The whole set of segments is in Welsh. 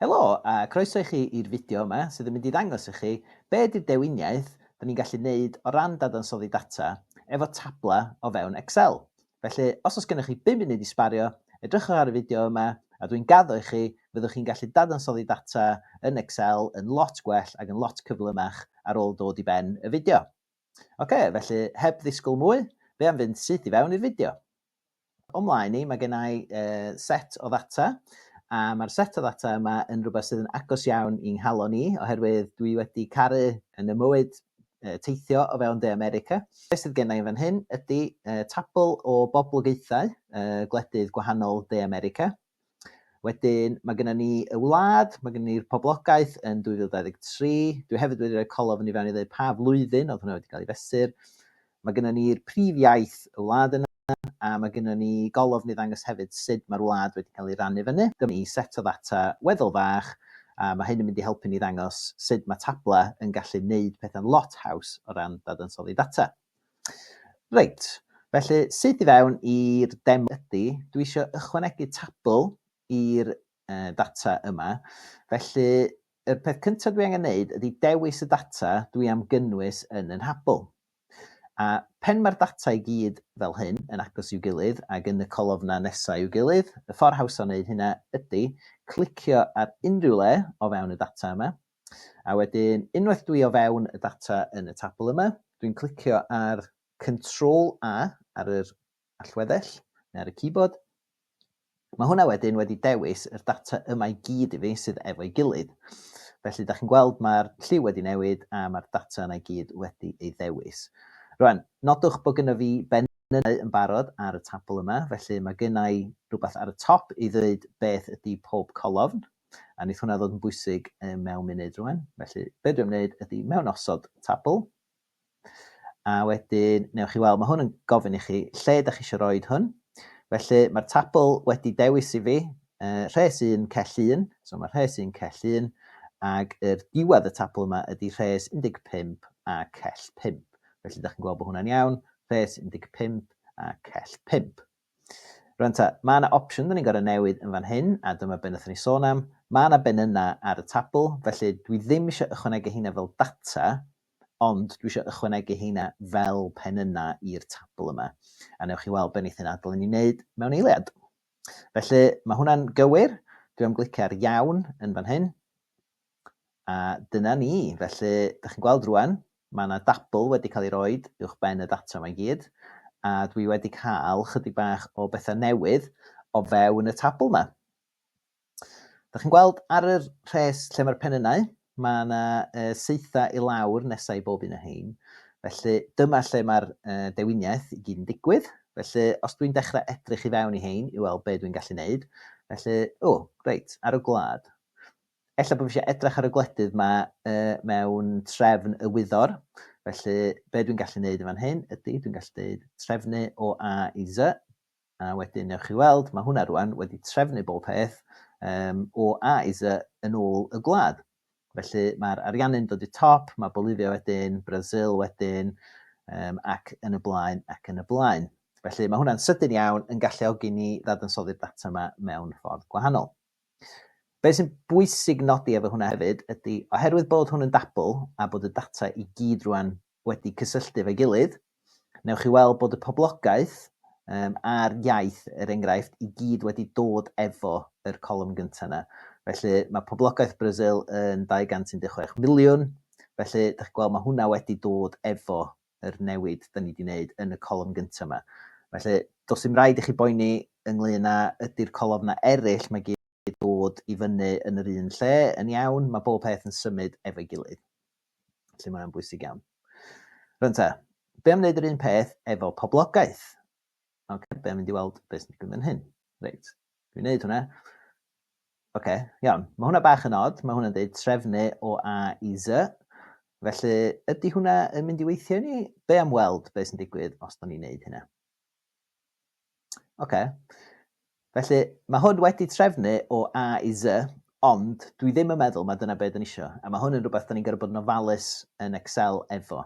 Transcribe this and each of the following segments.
Helo, a croeso i chi i'r fideo yma sydd yn mynd i ddangos i chi be ydy'r dewiniaeth da ni'n gallu neud o ran dadansoddi data efo tabla o fewn Excel. Felly, os oes gennych chi bum munud i sbario, edrychwch ar y fideo yma a dwi'n gaddo i chi, fyddwch chi'n gallu dadansoddi data yn Excel yn lot gwell ac yn lot cyflymach ar ôl dod i ben y fideo. Ocê, felly heb ddisgwyl mwy, fe am fynd syth i fewn i'r fideo. O mlaen ni, mae genna i set o ddata, a mae'r set o ddata yma yn rhywbeth sydd yn agos iawn i'n nghalon i, oherwydd dwi wedi caru yn y mywyd teithio o fewn De America. Be sydd genna i fan hyn ydy tabl o boblogaethau gwledydd gwahanol De America. Wedyn, mae gennym ni y wlad, mae gennym ni'r poblogaeth yn 2023. Dwi hefyd wedi rhoi colofn i fewn i ddweud pa flwyddyn oedd hwnna wedi cael ei fesur. Mae gennym ni'r prif iaith y wlad yna, a mae gennym ni golofn i ddangos hefyd sut mae'r wlad wedi cael ei rannu fyny. Dyma ni set o ddata weddol fach, a mae hyn yn mynd i helpu ni ddangos sut mae tablau yn gallu gwneud pethau'n lot haws o ran dadansoddi data. Reit, felly syth i fewn i'r demo ydy, dwi isio ychwanegu tabl i'r uh, data yma. Felly, y peth cyntaf dwi angen wneud ydy dewis y data dwi am gynnwys yn y nhabl. A pen mae'r data i gyd fel hyn yn agos i'w gilydd ac yn y colofna nesaf i'w gilydd, y ffordd haws o wneud hynna ydy clicio ar unrhyw le o fewn y data yma, A wedyn unwaith dwi o fewn y data yn y tabl yma, dwi'n clicio ar Control A ar yr allweddell neu ar y keyboard. Mae hwnna wedyn wedi dewis yr data yma i gyd i fi sydd efo'i gilydd. Felly, da chi'n gweld mae'r lliw wedi newid a mae'r data yna i gyd wedi ei ddewis. Rwan, nodwch bod gyda fi benynau yn barod ar y tabl yma, felly mae gennau rhywbeth ar y top i ddweud beth ydy pob colofn. A wneith hwnna ddod yn bwysig mewn munud rwan. Felly, be dwi'n gwneud ydy mewn osod tabl, a wedyn, newch chi weld, mae hwn yn gofyn i chi lle ydych chi eisiau rhoi hwn. Felly, mae'r tabl wedi dewis i fi, uh, rhes 1, cell 1, so mae rhes 1, cell 1, ac yr diwedd y tabl yma ydy rhes 15 a cell 5. Felly, ydych chi'n gweld bod hwnna'n iawn, rhes 15 a cell 5. Rŵan ta, mae yna opsiwn dan ni'n gorfod newid yn fan hyn, a dyma be wnaethon ni sôn am. Mae yna benynnau ar y tabl, felly dwi ddim eisiau ychwanegu heina fel data, ond dwi eisiau ychwanegu heina fel penynnau i'r tabl yma. A newch chi weld be wneith hyn adael i ni wneud mewn eiliad. Felly, mae hwnna'n gywir. Dwi am glicio ar iawn yn fan hyn. A dyna ni. Felly, dych chi'n gweld rwan, mae yna dabl wedi cael ei roed uwch ben y data yma i gyd, a dwi wedi cael chydig bach o bethau newydd o fewn y tabl yma. Dych chi'n gweld ar yr rhes lle mae'r penynau, mae yna saethau i lawr nesau i bob un o hein. Felly, dyma lle mae'r dewiniaeth i gyd yn digwydd. Felly, os dwi'n dechrau edrych i fewn i hein i weld be dwi'n gallu neud, felly, o, reit, ar y gwlad. Ella bod fi eisiau edrych ar y gwledydd yma mewn trefn y wyddor, felly be dwi'n gallu gwneud yn fan hyn ydy dwi'n gallu dweud trefnu o A i Z, a wedyn newch chi weld mae hwnna rwan wedi trefnu bob peth um, o A i Z yn ôl y gwlad. Felly mae'r ariannu'n dod i top, mae Bolivia wedyn, Brazil wedyn, um, ac yn y blaen ac yn y blaen. Felly mae hwnna'n sydyn iawn yn galluogi ni ddadansoddi'r data yma mewn ffordd gwahanol. Be' sy'n bwysig nodi efo hwnna hefyd ydi oherwydd bod hwn yn dabl a bod y data i gyd rŵan wedi cysylltu efo'i gilydd, newch chi weld bod y poblogaeth yym a'r iaith, er enghraifft, i gyd wedi dod efo yr colofn gynta' 'na. Felly mae poblogaeth Brasil yn 216 miliwn, felly dach chi'n gweld ma' hwnna wedi dod efo yr newid 'da ni 'di 'neud yn y colofn gynta 'ma. Felly, does dim raid i chi boeni ynglŷn â ydi'r colofna eraill 'ma gyd yn dod i fyny yn yr un lle yn iawn, mae bob peth yn symud efo'i gilydd. Felly mae o'n bwysig iawn. Rwan ta, be' am 'neud yr un peth efo poblogaeth? Ocê, be' am mynd i weld be' sy'n digwydd fan hyn? Reit, dwi'n 'neud hwnna. Ok, iawn. Mae hwnna bach yn od, mae hwnna'n deud trefnu o A i Z. Felly, ydy hwnna yn mynd i weithio i ni? Be am weld be sy'n digwydd os da ni'n neud hynna? Ok. Felly, mae hwn wedi trefnu o A i Z, ond dwi ddim yn meddwl mae dyna be da ni isio. A mae hwn yn rhywbeth da ni'n gorfod bod yn ofalus yn Excel efo.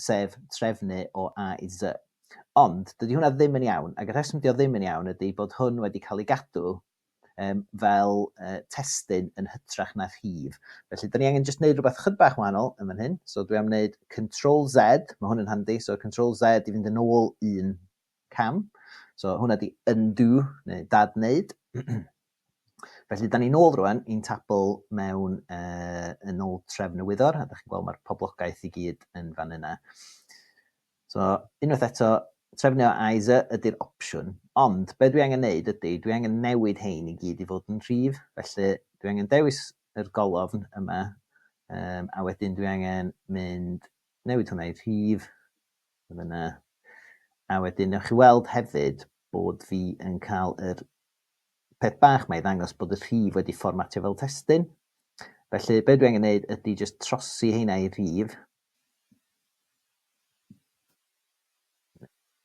sef trefnu o A i Z. Ond, dydy hwnna ddim yn iawn, ac y rheswm dydy o ddim yn iawn ydy bod hwn wedi cael ei gadw um, fel uh, testyn yn hytrach na rhif. Felly, da ni angen jyst wneud rhywbeth chyd bach wahanol yn fan hyn. So, dwi am wneud Control Z, mae hwn yn handi, so Control Z i fynd yn ôl un cam. So hwnna di undo, neu dad wneud. Felly, da ni'n ôl rwan i'n tabl mewn uh, yn ôl trefn y wyddor, a da chi'n gweld mae'r poblogaeth i gyd yn fan yna. So, unwaith eto, trefnio IZ ydy'r opsiwn, ond be dwi angen neud ydy, dwi angen newid hein i gyd i fod yn rhif, felly dwi angen dewis yr golofn yma, um, a wedyn dwi angen mynd newid hwnna i rhif, Beth bynnag. A wedyn newch chi weld hefyd bod fi yn cael yr peth bach mae i ddangos bod y rhif wedi fformatio fel testun. Felly beth dwi angen gwneud ydy jyst trosi heina i rhif.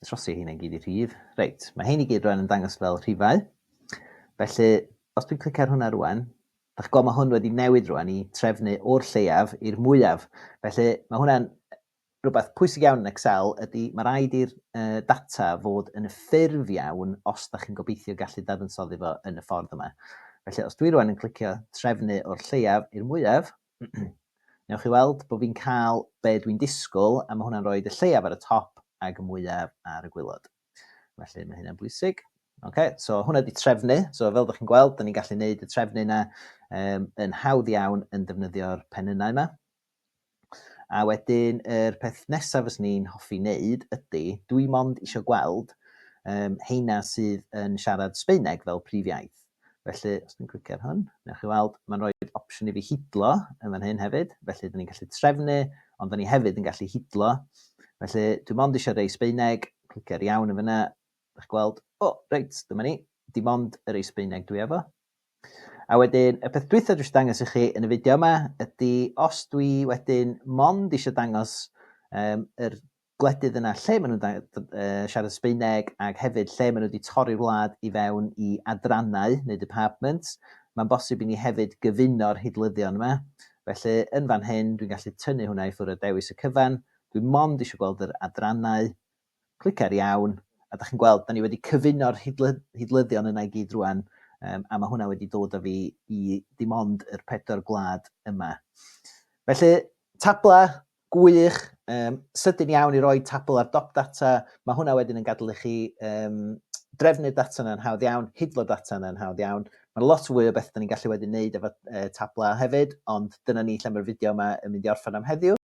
Trosi heina i gyd i rhif. Reit, mae hein i gyd rwan yn dangos fel rhifau. Felly, os dwi'n clicio ar hwnna rwan, Dach chi'n gweld mae hwn wedi newid rwan i trefnu o'r lleiaf i'r mwyaf. Felly mae hwnna'n Rhywbeth pwysig iawn yn Excel ydy mae rhaid i'r data fod yn y ffurf iawn os da chi'n gobeithio gallu dadansoddi fo yn y ffordd yma. Felly os dwi rwan yn clicio trefnu o'r lleiaf i'r mwyaf, newch chi weld bod fi'n cael be dwi'n disgwyl a mae hwnna'n rhoi y lleiaf ar y top ag y mwyaf ar y gwylod. Felly mae hynna'n bwysig. Okay, so hwnna di trefnu, so fel da chi'n gweld, da ni'n gallu neud y trefnu yna um, yn hawdd iawn yn defnyddio'r penynau yma. A wedyn yr peth nesa fyswn i'n hoffi neud ydi, dwi mond isio gweld yym heina sydd yn siarad Sbaeneg fel prif iaith. Felly, os dwi'n clicio ar hwn, newch chi weld, mae'n rhoi'r opsiwn i fi hidlo yn fan hyn hefyd, felly dyn ni'n gallu trefnu, ond dyn ni hefyd yn gallu hidlo. Felly, dwi mond isio rei Sbaeneg, clicio ar iawn yn fyna, dych chi'n gweld, o, reit, dyma ni, dim ond y rei Sbaeneg dwi efo. A wedyn y peth dwytha dwi isio dangos i chi yn y fideo yma ydy os dwi wedyn mond eisiau dangos um, yr gwledydd yna lle maen nhw'n uh, siarad Sbeineg ac hefyd lle maen nhw wedi torri'r wlad i fewn i adrannau neu departments, mae'n bosib i ni hefyd gyfuno'r hidlyddion yma. Felly yn fan hyn dwi'n gallu tynnu hwnna i ffwrdd a dewis y cyfan. Dwi'n mond eisiau gweld yr adrannau Clica ar iawn, a dach chi'n gweld, da ni wedi cyfuno'r hidlyddion yna i gyd rwan, um, a mae hwnna wedi dod â fi i dim ond yr pedwar gwlad yma. Felly, tabla gwych, um, sydyn iawn i roi tabl ar dop data, mae hwnna wedyn yn gadw i chi um, drefnu'r data yna'n hawdd iawn, hidlo data yna'n hawdd iawn. Mae lot fwy o beth da ni'n gallu wedyn wneud efo uh, tabla hefyd, ond dyna ni lle mae'r fideo yma yn mynd i orffen am heddiw.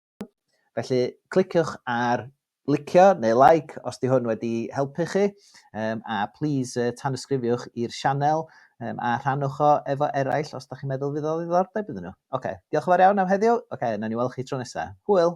Felly, cliciwch ar licio neu like os di hwn wedi helpu chi, um, a please uh, tanysgrifiwch i'r sianel um, a rhanwch o efo eraill os da chi'n meddwl fydd o ddiddordeb iddyn nhw. Oce, okay. diolch yn fawr iawn am heddiw. Oce, okay, na ni weld chi tro nesaf. Hwyl!